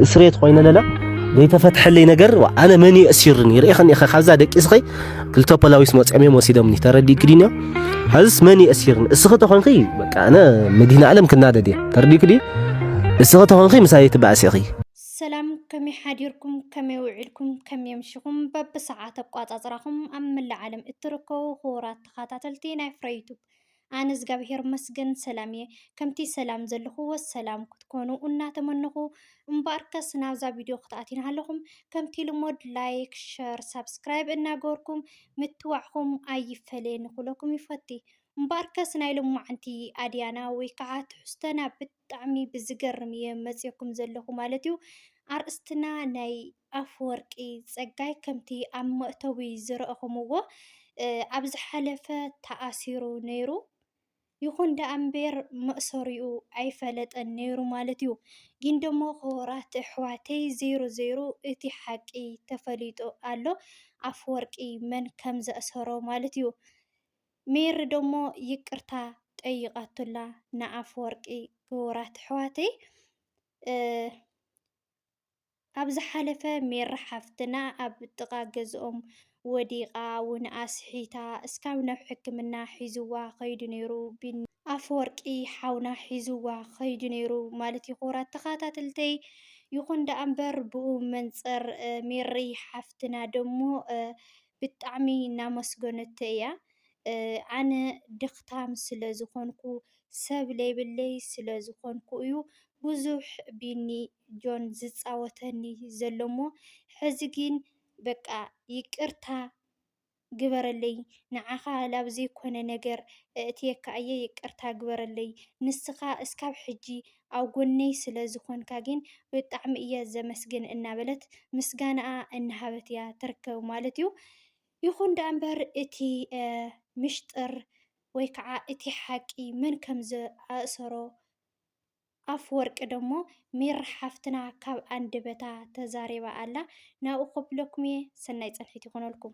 እስሬት ኮይነ ለለ ዘይተፈትሐለይ ነገር ኣነ መን እየ እሲርኒ ርኢኸኒ ኢኸ ካብዛ ደቂ ስኸ ክልተ ፖላዊስ መፅኦም እዮም ወሲዶምኒ ተረዲእኪ ድንዮ ሐዝስ መን እየ እሲርኒ እስኺ ተኾንኺ በቃ ኣነ መዲህን ዓለም ክናደድ እየ ተረዲእኪ ድዩ እስኺ ተኾንኺ ምሳይ ትባእሲ ኢኺ ሰላም ከመይ ሓዲርኩም ከመይ ውዒልኩም ከመይ ምሽኹም በብሰዓት ኣቋፃፅራኹም ኣብ መላእ ዓለም እትርከቡ ክቡራት ተኸታተልቲ ናይ ፍረ ዩቱብ ኣነ እዝጋብሄር መስገን ሰላም እየ ከምቲ ሰላም ዘለኹዎ ሰላም ክትኮኑ እናተመነኹ እምበኣርከስ ናብዛ ቪድዮ ክትኣትዩ ናሃለኹም ከምቲ ልሙድ ላይክ ሸር ሳብስክራይብ እናገበርኩም ምትዋዕኹም ኣይፈለየኒ ክብለኩም ይፈቲ እምበኣርከስ ናይ ሎማዓንቲ ኣድያና ወይ ከዓ ትሕዝቶና ብት ብጣዕሚ ብዝገርም እየ መፅየኩም ዘለኹ ማለት እዩ። ኣርእስትና ናይ ኣፈወርቂ ፀጋይ ከምቲ ኣብ መእተዊ ዝረእኹምዎ ኣብ ዝሓለፈ ተኣሲሩ ነይሩ። ይኹን ደኣ እምበር መእሰሪኡ ኣይፈለጠን ነይሩ ማለት እዩ። ግን ደሞ ክቡራት ኣሕዋተይ ዘይሩ ዘይሩ እቲ ሓቂ ተፈሊጡ ኣሎ ኣፈወርቂ መን ከም ዘእሰሮ ማለት እዩ። ሜሪ ደሞ ይቅርታ ጠይቃቱላ ንኣፍወርቂ ክቡራት ኣሕዋተይ ኣብ ዝሓለፈ ሜሪ ሓፍትና ኣብ ጥቃ ገዝኦም ወዲቃ እውን ኣስሒታ እስካብ ናብ ሕክምና ሒዝዋ ከይዱ ነይሩ ቢኒ ኣፈወርቂ ሓውና ሒዝዋ ከይዱ ነይሩ ማለት እዩ ክቡራት ተኸታተልተይ ይኹን ደኣ እምበር ብኡ መንፅር ሜሪ ሓፍትና ደሞ ብጣዕሚ እናመስገነቶ እያ ኣነ ድኽታም ስለ ዝኾንኩ ሰብ ለይብለይ ስለ ዝኾንኩ እዩ ብዙሕ ቢኒ ጆን ዝፃወተኒ ዘሎ እሞ ሕዚ ግን በቃ ይቅርታ ግበረለይ ንዓኻ ላብ ዘይኮነ ነገር እእትየካ እየ ይቅርታ ግበረለይ ንስኻ እስካብ ሕጂ ኣብ ጎነይ ስለ ዝኾንካ ግን ብጣዕሚ እየ ዘመስግን እናበለት ምስጋናኣ እናሃበት እያ ትርከብ ማለት እዩ። ይኹን ደኣ እምበር እቲ ምሽጥር ወይ ከዓ እቲ ሓቂ መን ከም ዝኣእሰሮ ኣፍ ወርቂ ደሞ ሜሪ ሓፍትና ካብ ኣንደበታ ተዛሪባ ኣላ። ናብኡ ከብለኩም እየ። ሰናይ ጸንሒት ይኹነልኩም።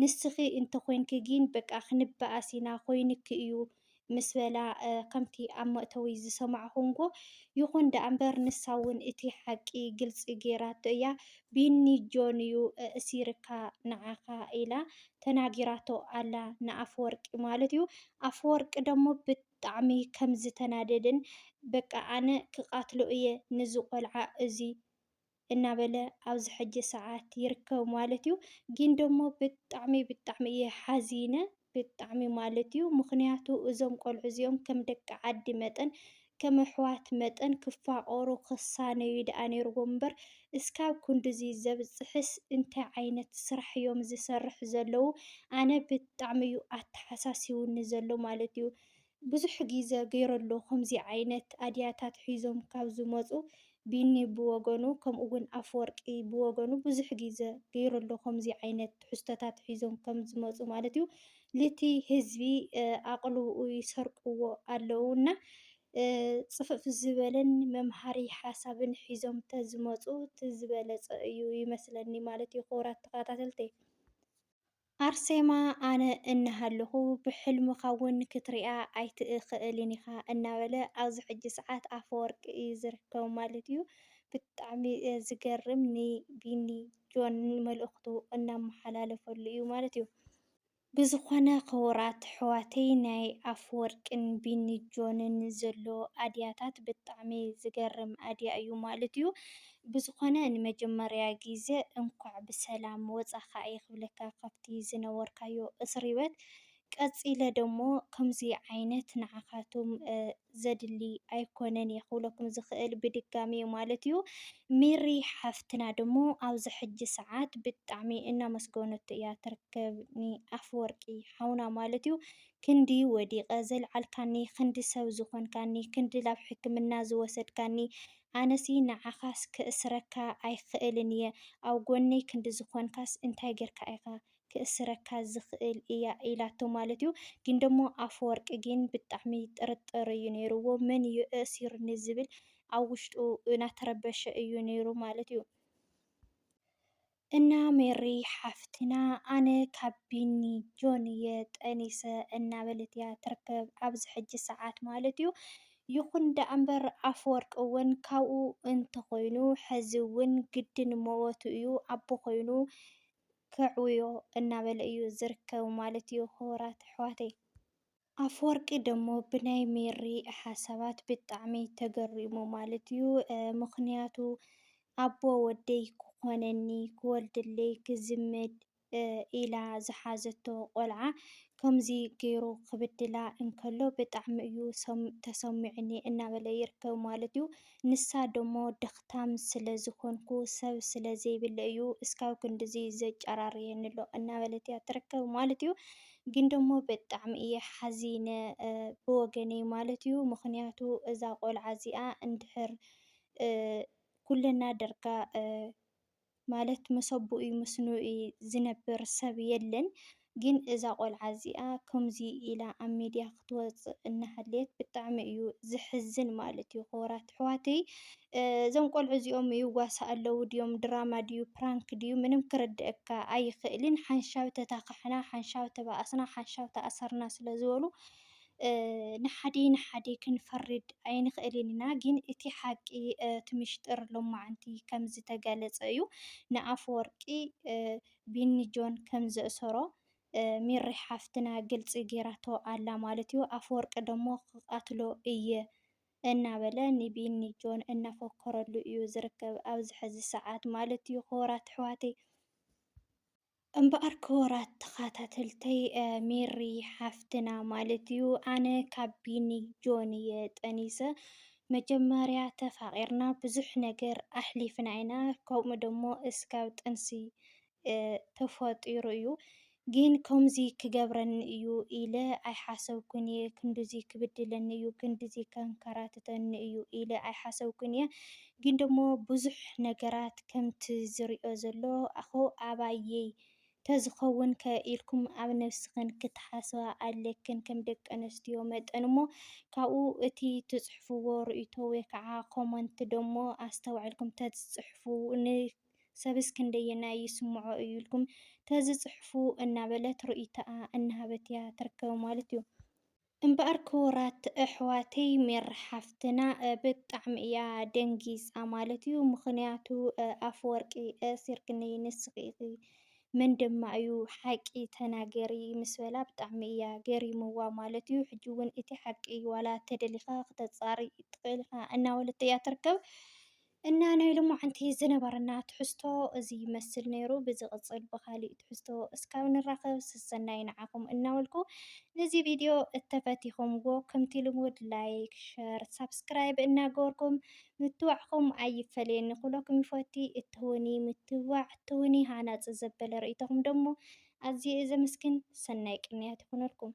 ንስኺ እንተኾይንኪ ጊን በቃ ክንበኣስ ኢና ኾይኑኪ እዩ ምስ በላ ከምቲ ኣብ መእተዊ ዝሰማዕኹንጎ ይኹን ደኣ እምበር ንሳ እውን እቲ ሓቂ ግልፂ ገይራቶ እያ ቢኒ ጆን እዩ እእሲርካ ንዓኻ ኢላ ተናጊራቶ ኣላ ንኣፈወርቂ ማለት እዩ ኣፈወርቂ ደሞ ብጣዕሚ ከምዝተናደደን በቃ ኣነ ክቃትሎ እየ ንዚ ቆልዓ እዙይ እናበለ ኣብዚ ሕጂ ሰዓት ይርከብ ማለት እዩ። ግን ደሞ ብጣዕሚ ብጣዕሚ እየ ሓዚነ ብጣዕሚ ማለት እዩ ምኽንያቱ እዞም ቆልዑ እዚኦም ከም ደቂ ዓዲ መጠን ከም ኣሕዋት መጠን ክፋቐሩ ክሳነዩ ደኣ ነይርዎም እምበር እስካብ ክንድዚ ዘብጽሕስ እንታይ ዓይነት ስራሕ እዮም ዝሰርሑ ዘለዉ ኣነ ብጣዕሚ እዩ ኣተሓሳሲውኒ ዘሎ ማለት እዩ። ብዙሕ ጊዘ ገይሩ ኣሎ ከምዚ ዓይነት ኣድያታት ሒዞም ካብ ዝመጹ ቢኒ ብወገኑ ከምኡ ውን ኣፈወርቂ ብወገኑ ብዙሕ ጊዘ ገይሩ ኣሎ ከምዚ ዓይነት ትሕዝቶታት ሒዞም ከም ዝመጹ ማለት እዩ ልቲ ህዝቢ ኣቕልብኡ ይሰርቅዎ ኣለዉ እና ጽፍፍ ዝበለን መምሃሪ ሓሳብን ሒዞም ተዝመጹ ትዝበለጸ እዩ ይመስለኒ ማለት እዩ ክቡራት ተኸታተልተይ። ኣርሴማ ኣነ እናሃለኹ ብሕልምኻ እውን ክትሪኣ ኣይትእኸእልን ኢኻ እናበለ ኣብዚ ሕጂ ሰዓት ኣፈወርቂ እዩ ዝርከቡ ማለት እዩ። ብጣዕሚ ዝገርም ንቢኒ ጆን መልእኽቱ እናመሓላለፈሉ እዩ ማለት እዩ። ብዝኾነ ኽቡራት ኣሕዋተይ ናይ ኣፈወርቂን ቢኒ ጆንን ዘሎ ኣድያታት ብጣዕሚ ዝገርም ኣድያ እዩ ማለት እዩ። ብዝኮነ ንመጀመርያ ግዘ እንኳዕ ብሰላም ወፃካ እየ ክብለካ ካብቲ ዝነበርካዮ እስሪበት ቀፂለ ደሞ ከምዙይ ዓይነት ንዓካቱም ዘድሊ ኣይኮነን እየ ክብለኩም ዝክእል ብድጋሚ ማለት እዩ ሜሪ ሓፍትና ደሞ ኣብዚ ሕጂ ሰዓት ብጣዕሚ እናመስገነቶ እያ ትርከብ ንኣፍወርቂ ሓውና ማለት እዩ ክንዲ ወዲቀ ዘልዓልካኒ ክንዲ ሰብ ዝኮንካኒ ክንዲ ላብ ሕክምና ዝወሰድካኒ ኣነሲ ንዓኻስ ክእስረካ ኣይክእልን እየ ኣብ ጎነይ ክንዲ ዝኾንካስ እንታይ ጌርካ ኢኻ ክእስረካ ዝኽእል እያ ኢላቶ ማለት እዩ ግን ደሞ ኣፈወርቂ ግን ብጣዕሚ ጥርጥር እዩ ነይርዎ መን እዩ እእሲሩኒ ዝብል ኣብ ውሽጡ ናተረበሸ እዩ ነይሩ ማለት እዩ። እና ሜሪ ሓፍትና ኣነ ካብ ቢኒ ጆን እየ ጠኒሰ እናበለት እያ ትርከብ ኣብዚ ሕጂ ሰዓት ማለት እዩ ይኹን ደኣምበር ኣፈወርቂ እውን ካብኡ እንተኾይኑ ሕዚ እውን ግድን መወቱ እዩ ኣቦ ኮይኑ ከዕውዮ እናበለ እዩ ዝርከብ ማለት እዩ ክቡራት ኣሕዋተይ ኣፈወርቂ ደሞ ብናይ ሜሪ ሓሳባት ብጣዕሚ ተገሪሙ ማለት እዩ ምኽንያቱ ኣቦ ወደይ ክኾነኒ ክወልደለይ ክዝምድ ኢላ ዝሓዘቶ ቆልዓ ከምዚ ገይሩ ክብድላ እንከሎ ብጣዕሚ እዩ ተሰሚዑኒ እናበለ ይርከብ ማለት እዩ። ንሳ ደሞ ደኽታም ስለ ዝኾንኩ ሰብ ስለ ዘይብለ እዩ እስካብ ክንድዚ ዘጫራርየኒ'ሎ እናበለት እያ ትርከብ ማለት እዩ። ግን ደሞ ብጣዕሚ እየ ሓዚነ ብወገነይ ማለት እዩ። ምኽንያቱ እዛ ቆልዓ እዚኣ እንድሕር ኩለና ደርጋ ማለት መሰቡኡ ምስንኡ ዝነብር ሰብ የለን ግን እዛ ቆልዓ እዚኣ ከሙዙይ ኢላ ኣብ ሚድያ ክትወፅእ እናሃለየት ብጣዕሚ እዩ ዘሕዝን ማለት እዩ ክቡራት ኣሕዋተይ እዞም ቆልዑ እዚኦም ይዋሳእ ኣለው ድዮም ድራማ ድዩ ፕራንክ ድዩ ምንም ክርድእካ ኣይኽእልን ሓንሻብ ተታካሕና ሓንሻብ ተባኣስና ሓንሻብ ተኣሰርና ስለዝበሉ ንሓደ ንሓደ ክንፈርድ ኣይንኽእልን ኢና ግን እቲ ሓቂ እቲ ምሽጥር ሎማዓንቲ ከም ዝተገለፀ እዩ ንኣፈወርቂ ቢኒ ጆን ከም ዘእሰሮ ሚሪ ሓፍትና ግልፂ ገይራቶ ኣላ ማለት እዩ ኣፈወርቂ ደሞ ክቃትሎ እየ እናበለ ንቢኒ ጆን እናፎከረሉ እዩ ዝርከብ ኣብዚ ሐዚ ሰዓት ማለት እዩ ኽቡራት ኣሕዋተይ እምበኣር ክቡራት ተኻታተልተይ ሜሪ ሓፍትና ማለት እዩ ኣነ ካብ ቢኒ ጆን እየ ጠኒሰ መጀመርያ ተፋቒርና ብዙሕ ነገር ኣሕሊፍና ኢና ከምኡ ደሞ እስካብ ጥንሲ ተፈጢሩ እዩ ግን ከምዚ ክገብረኒ እዩ ኢለ ኣይሓሰብኩን እየ ክንድዚ ክብድለኒ እዩ ክንድዚ ከንከራትተኒ እዩ ኢለ ኣይሓሰብኩን እየ ግን ደሞ ብዙሕ ነገራት ከምቲ ዝሪኦ ዘለኹ ኣባየይ ተዝኸውን ከ ኢልኩም ኣብ ነብስኽን ክትሓስባ ኣለክን ከም ደቂ ኣንስትዮ መጠን እሞ ካብኡ እቲ ትጽሕፍዎ ርእይቶ ወይ ከዓ ኮመንት ደሞ ኣስተውዕልኩም ተዝጽሕፉ ን ሰብስ ክንደየናይ ይስምዖ እዩ ኢልኩም ተዝጽሕፉ እናበለት ርእይቶኣ እናሃበት እያ ትርከብ ማለት እዩ። እምበኣር ክቡራት ኣሕዋተይ ሜሪ ሓፍትና ብጣዕሚ እያ ደንጊፃ ማለት እዩ ምኽንያቱ ኣፈወርቂ እሲርክኒ ንስኺ ኢኺ መን ድማ እዩ ሓቂ ተናገሪ ምስ በላ ብጣዕሚ እያ ገሪምዋ ማለት እዩ ሕጂ እውን እቲ ሓቂ ዋላ ተደሊኻ ክተፃሪ ትኽእል ኢኻ እናበለቶ እያ ትርከብ እና ናይ ሎማዓንቲ ዝነበረና ትሕዝቶ እዚ ይመስል ነይሩ ብዝቅፅል ብካሊእ ትሕዝቶ እስካብ ንራከብ ሰሰናዩ ንዓኩም እናበልኩ ነዚ ቪድዮ እተፈቲኩምዎ ከምቲ ልሙድ ላይክ ሸር ሳብስክራይብ እናገበርኩም ምትብባዕኩም ኣይፈለየኒ ኩለኩም ይፈቲ እትህቡኒ ምትብባዕ እትህቡኒ ሃናፂ ዘበለ ርእይቶኩም ደሞ ኣዝየ እየ ዘመስግን ሰናይ ቅንያት ይኩነልኩም።